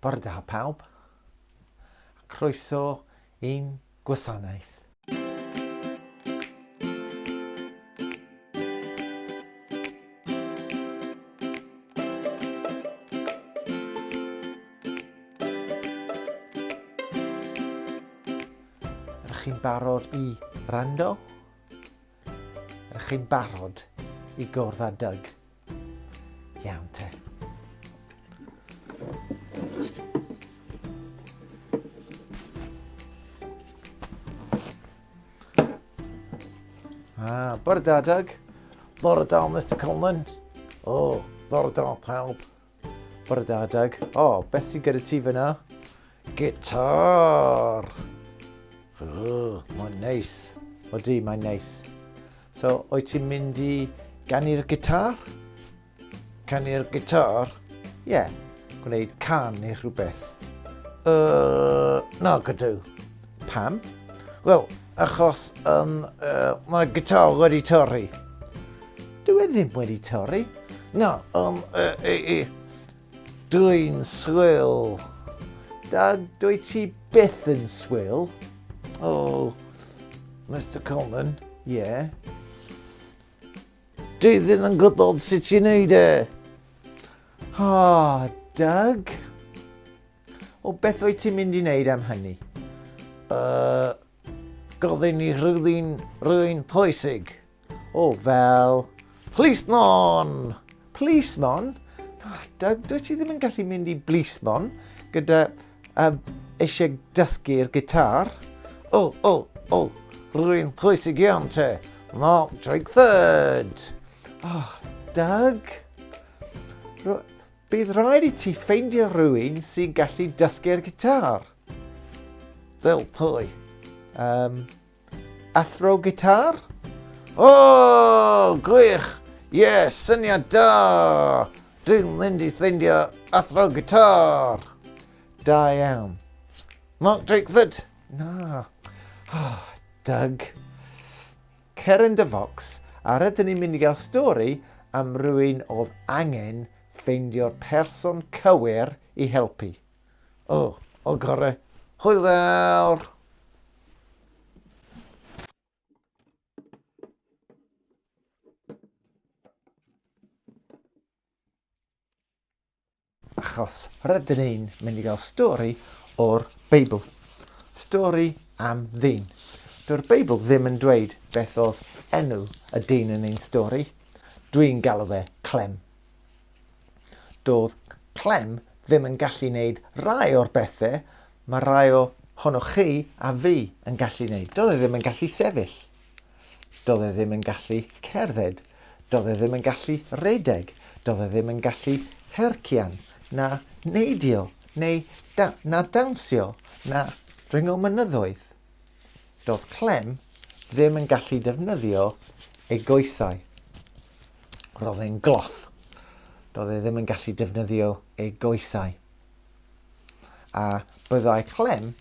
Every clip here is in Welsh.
Bore da pawb, a croeso i'n gwasanaeth. chi'n barod i rando? Ydych chi'n barod i gwrdd â Doug Iawn te. Ah, bore da, Doug. Bore da, Mr Conlon. O, oh, bore da, pawb. Bore da, Doug. O, oh, beth sy'n gyda ti fyna? Gitar! Oh, mae'n neis. O di, mae'n neis. So, o'i ti'n mynd i ganu'r gitar? Canu'r gitar? Ie, yeah. gwneud can neu rhywbeth. Uh, na, gydw. Pam? Wel, achos um, uh, mae gitar wedi torri. Dwi e ddim wedi torri. Na, um, uh, e, e, dwi'n swil. Da, dwi ti byth yn swil. O, oh, Mr Coleman, ie. Yeah. Dwi ddim yn gwybod sut i'n neud e. Ha, oh, Doug. O beth wyt ti'n mynd i wneud am hynny? Uh, gofyn i rhywun, rhywun pwysig. O, fel... Plismon! Plismon? Na, Doug, dwi ti ddim yn gallu mynd i blismon gyda uh, eisiau dysgu'r gitar. O, o, o, rwy'n pwysig iawn te. Mark Drakeford! Oh, Doug! Bydd rhaid i ti ffeindio rhywun sy'n gallu dysgu'r gitar. Fel pwy? Um, athro gitar? O, oh, gwych! Ie, yeah, syniad da! Dwi'n mynd i ffeindio athro gitar! Da iawn. Mark Drakeford? Na. Oh, Doug. Cer yn dy focs a rydyn ni'n mynd i gael stori am rywun oedd angen ffeindio'r person cywir i helpu. O, o gore. Hwyl fawr! Achos rydyn ni'n mynd i gael stori o'r Beibl. Stori am ddyn. Dyw'r Beibl ddim yn dweud beth oedd enw y dyn yn ein stori. Dwi'n galw fe Clem. Doedd Clem ddim yn gallu wneud rai o'r bethau mae rai o honoch chi a fi yn gallu wneud. Doedd e ddim yn gallu sefyll. Do'dd e ddim yn gallu cerdded. Do'dd e ddim yn gallu redeg. Do'dd e ddim yn gallu hercian, na neidio, neu da- na dawnsio, na dringo mynyddoedd. Do'dd Clem ddim yn gallu defnyddio ei goesau. Ro'dd e'n gloff. Do'dd e ddim yn gallu defnyddio ei goesau. A byddai Clem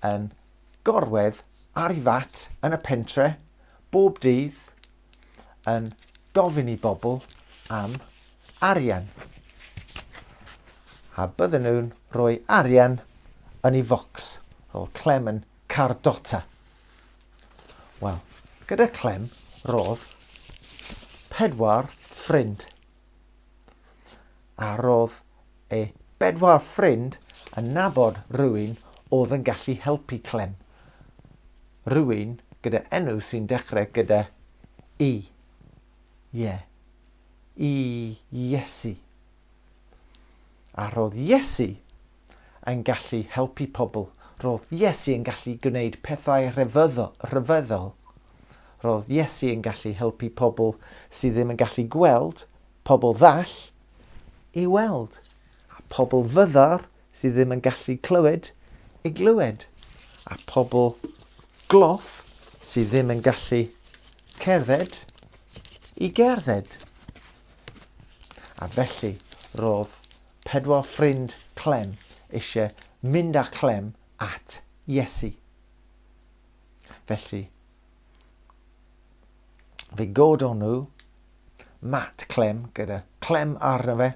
yn Gorwedd ar ei fat yn y pentre bob dydd yn gofyn i bobl am arian. A bydden nhw'n rhoi arian yn ei focs fel Clem yn Cardota. Wel, gyda Clem roedd pedwar ffrind. a roedd ei bedwar ffrind yn nabod rhywun oedd yn gallu helpu Clem. Rhywun gyda enw sy'n dechrau gyda E. Ie. I Iesu. A roedd Iesu yn gallu helpu pobl. Roedd Iesu yn gallu gwneud pethau rhyfeddol. Roedd Iesu yn gallu helpu pobl sydd ddim yn gallu gweld Pobl ddall i weld, a phobl fyddar sydd ddim yn gallu clywed i glywed, a phobl gloff sydd ddim yn gallu cerdded i gerdded. A felly roedd pedwar ffrind Clem eisiau mynd â Chlem at Iesu. Felly, fe godon nhw mat clem gyda chlem arno fe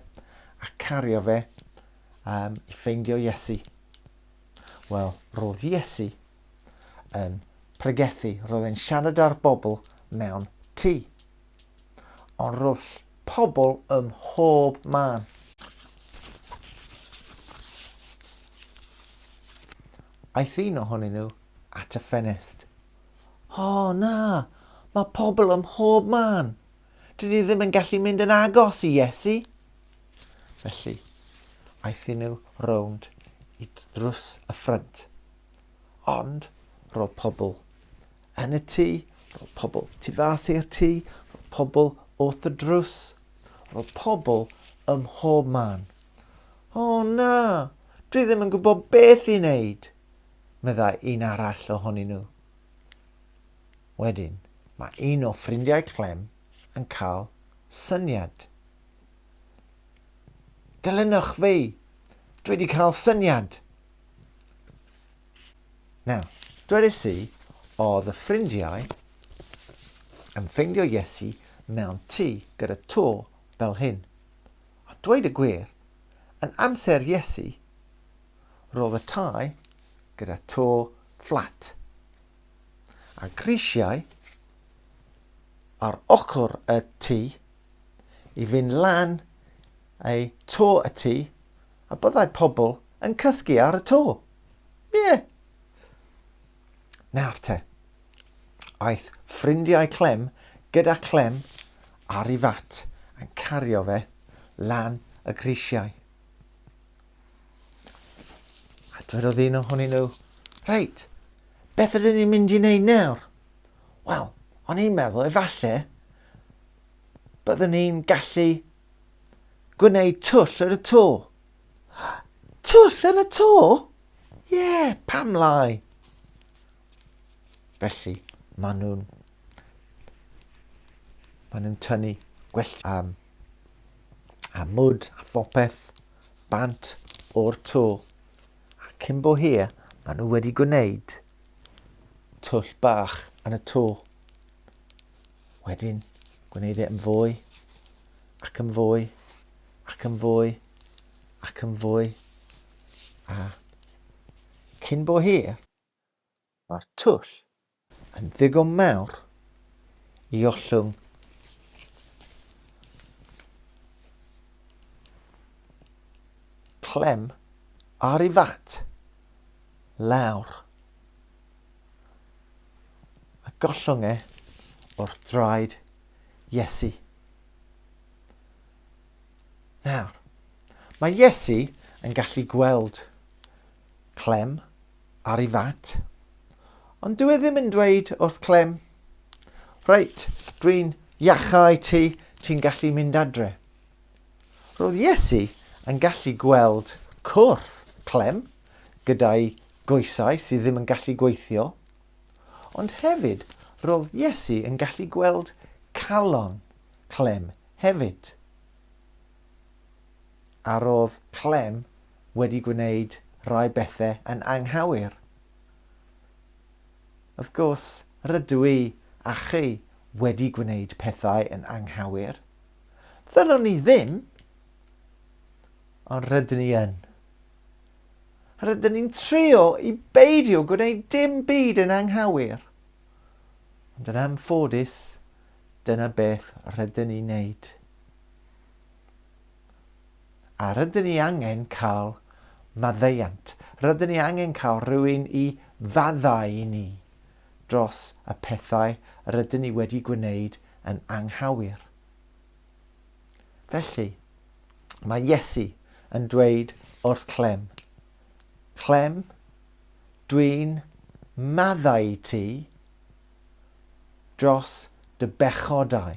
a cario fe um, i ffeindio Iesu. Wel, roedd Iesu yn pregethu, roedd e'n siarad â'r bobl mewn tŷ. Ond roedd pobl ym mhob man. Aeth un ohonyn nhw at y ffenest O, na! Mae pobl ym mhob man. Dyn ni ddim yn gallu mynd yn agos i Iesu. Felly, aethon nhw rownd i drws y ffrynt. Ond roedd pobl yn y tŷ, roedd pobl tu fas i'r tŷ, roedd pobl wrth y drws, roedd pobl ym mhob man. O na, dwi ddim yn gwybod beth i wneud, meddai un arall ohonyn nhw. Wedyn, mae un o ffrindiau Clem yn cael syniad. Dilynwch fi! Dwi wedi cael syniad! Nawr, dwedais i, oedd y ffrindiau yn ffeindio Iesu mewn tŷ gyda to fel hyn. A dweud y gwir, yn amser Iesu, Roedd y tai gyda to fflat a grisiau ar ochr y tŷ i fynd lan ei to y tŷ a byddai pobl yn cysgu ar y to. Ie. Yeah. Nawr te, aeth ffrindiau Clem gyda Clem ar ei fat yn cario fe lan y grisiau. A dwedodd un ohonyn nhw, Reit, beth ydyn ni'n mynd i wneud nawr? Wel, o'n i'n meddwl efallai byddwn ni'n gallu gwneud twll yn y to. Twll yn y to? Ie, yeah, pam lai? Felly, maen nhw'n maen nhw'n tynnu gwell am a mwd a phopeth bant o'r to a cyn bo hir maen nhw wedi gwneud twll bach yn y to. Wedyn gwneud e yn fwy ac yn fwy ac yn fwy ac yn fwy a cyn bo hir Mae'r twll yn ddigon mawr i ollwng clem ar ei fat lawr a gollwng e wrth draed Iesu. Nawr, mae Iesu yn gallu gweld Clem, Ar i fat. Ond dyw e ddim yn dweud wrth Clem, Reit, dwi'n iachau ti, ti'n gallu mynd adre. Roedd Iesu yn gallu gweld cwrth Clem gyda'i goesau sydd ddim yn gallu gweithio, ond hefyd roedd Iesu yn gallu gweld calon Clem hefyd. a roedd Clem wedi gwneud rhai bethau yn anghywir. Wrth gwrs, rydw i a chi wedi gwneud pethau yn anghywir. Ddylwn ni ddim, ond rydyn ni yn. Rydyn ni'n trio i beidio gwneud dim byd yn anghywir. Ond yn anffodus, dyna beth rydyn ni'n neud. A rydyn ni angen cael maddeuant, rydyn ni angen cael rhywun i faddau i ni dros y pethau rydyn ni wedi gwneud yn anghywir. Felly, mae Iesu yn dweud wrth Clem, Clem, dwi'n maddau i ti dros dy bechodau.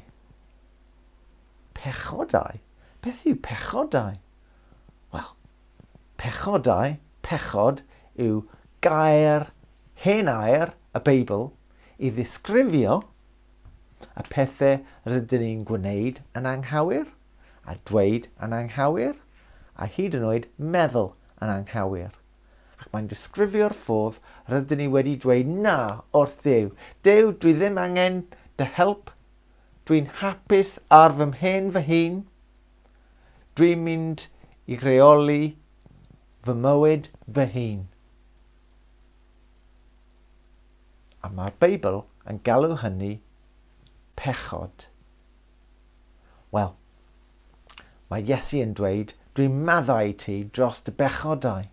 Pechodau? Beth yw pechodau? Wel, pechodau, pechod, yw gair hen air y Beibl i ddisgrifio y pethau rydyn ni'n gwneud yn anghywir, a dweud yn anghywir, a hyd yn oed meddwl yn anghywir. Ac mae'n disgrifio'r ffordd rydyn ni wedi dweud na wrth Dduw. Duw, dwi ddim angen dy help, Dwi'n hapus ar fy mhen fy hun. Dwi'n mynd i reoli fy mywyd fy hun. A mae'r Beibl yn galw hynny pechod. Wel, mae Iesu yn dweud, dwi'n maddau i ti dros dy bechodau.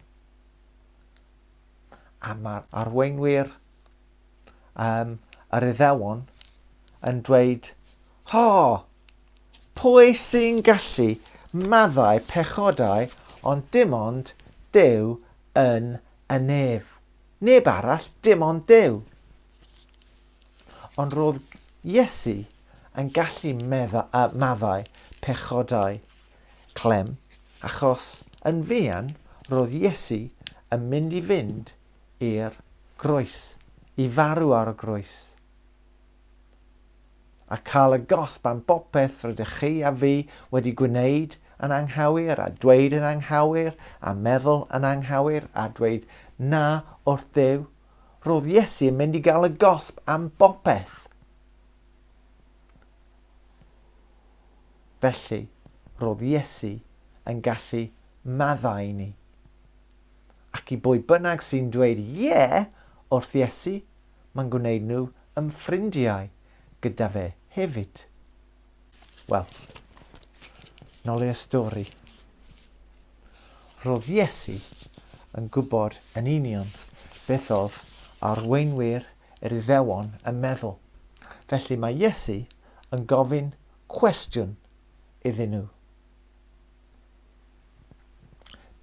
A mae'r arweinwyr um, yr Iddewon yn dweud, Ho! Pwy sy'n gallu maddau pechodau ond dim ond Dyw yn y nef? Neb arall, dim ond Dyw. Ond roedd Iesu yn gallu medda, uh, maddau pechodau clem, achos yn fuan roedd Iesu yn mynd i fynd i'r groes, i farw ar y groes, a cael y gosb am bopeth rydych chi a fi wedi gwneud yn anghywir, a dweud yn anghywir, a meddwl yn anghywir, a dweud na wrth Dduw, roedd Iesu yn mynd i gael y gosb am bopeth. Felly, roedd Iesu yn gallu maddau ni. Ac i bwy bynnag sy'n dweud 'Ie' wrth Iesu, mae'n gwneud nhw yn ffrindiau gyda fe hefyd. Wel, nol i'r stori. Roedd Iesu yn gwybod yn union beth oedd arweinwyr yr Iddewon yn meddwl. Felly mae Iesu yn gofyn cwestiwn iddyn nhw.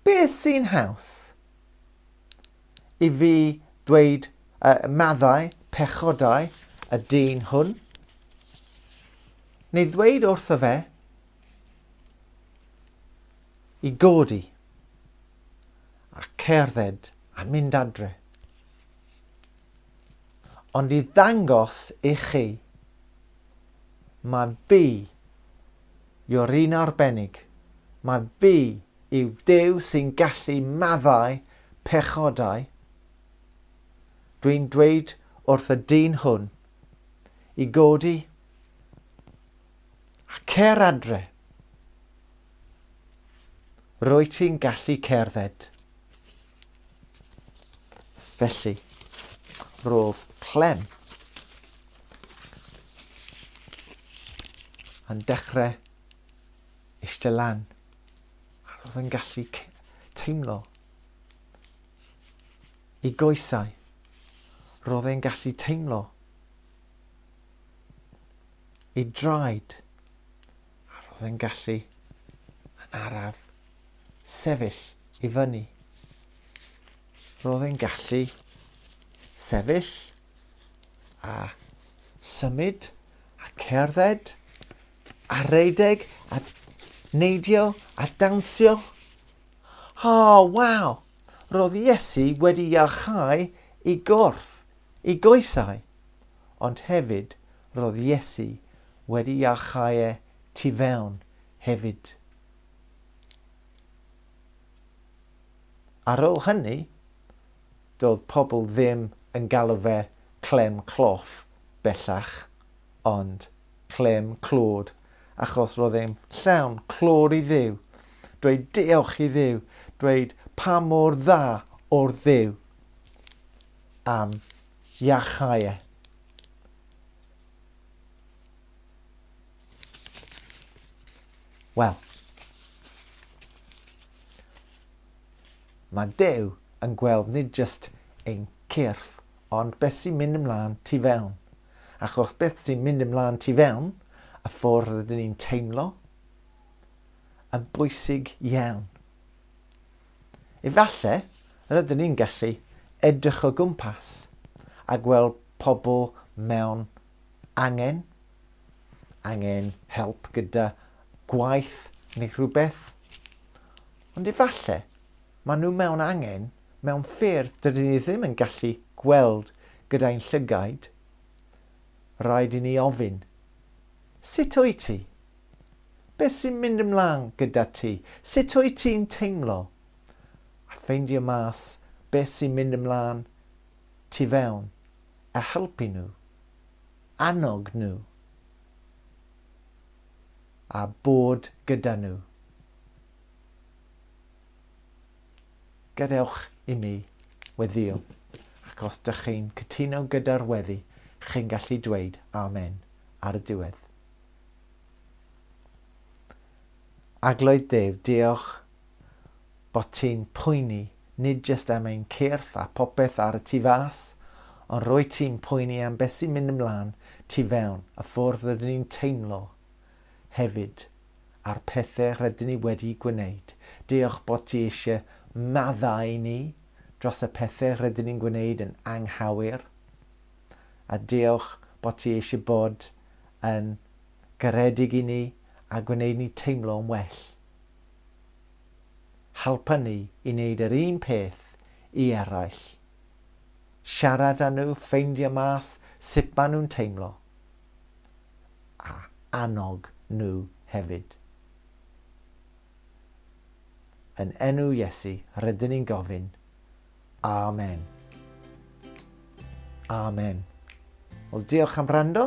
Beth sy'n haws? I fi ddweud uh, maddau, pechodau, y dyn hwn? Neu ddweud wrtho fe i godi a cerdded a mynd adre. Ond i ddangos i chi, mae fi You're un arbennig. Mae fi yw Duw sy'n gallu maddau pechodau. Dwi'n dweud wrth y dyn hwn i godi a cer adre. Rwyt ti'n gallu cerdded. Felly, roedd Clem yn dechrau eistedd lan. A roedd yn gallu teimlo i goesau. Roedd e'n gallu teimlo i draed. A roedd e'n gallu yn araf sefyll i fyny. Roedd e'n gallu sefyll a symud a cerdded a rhedeg a neidio a dawnsio. O, oh, waw! Roedd Iesu wedi iachau i gorff, i goesau, ond hefyd roedd Iesu wedi iachau e tu fewn hefyd. Ar ôl hynny, Doedd pobl ddim yn galw fe Clem Cloff bellach, ond Clem Clod, achos roedd e'n llawn clod i Dduw, dweud diolch i Dduw, dweud pa mor dda o'r Dduw am iachau e. Wel, Mae Duw yn gweld nid jyst ein cyrff ond beth sy'n mynd ymlaen tu fewn. Achos beth sy'n mynd ymlaen tu fewn, y ffordd rydyn ni'n teimlo, yn bwysig iawn. Efallai rydyn ni'n gallu edrych o gwmpas a gweld pobl mewn angen angen help gyda gwaith neu rhywbeth. Ond efallai maen nhw mewn angen mewn ffyrdd dydyn ni ddim yn gallu gweld gyda'in llygaid. Rhaid i ni ofyn, Sut wyt ti? Beth sy'n mynd ymlaen gyda ti? Sut wyt ti'n teimlo? A ffeindio mas beth sy'n mynd ymlaen tu fewn a helpu nhw. annog nhw a bod gyda nhw. Gadewch i mi weddio, ac os dych chi'n cytuno gyda'r weddi, chi'n gallu dweud amen ar y diwedd. Agloedd Dave, diolch bod ti'n poeni nid jyst am ein cyrff a phopeth ar y tu fas, ond rwyt ti'n poeni am beth sy'n mynd ymlaen tu fewn, y ffordd rydyn ni'n teimlo hefyd, a'r pethe rydyn ni wedi gwneud. Diolch bod ti eisiau maddau i ni dros y pethe rydyn ni'n gwneud yn anghywir, a diolch bod ti eisiau bod yn garedig i ni a gwneud ni teimlo'n well. Helpa ni i wneud yr un peth i eraill. Siarad â nhw, ffeindio mas sut maen nhw'n teimlo, a annog nhw hefyd. Yn enw Iesu, rydyn ni'n gofyn. Amen. Amen. Wel, diolch am rando.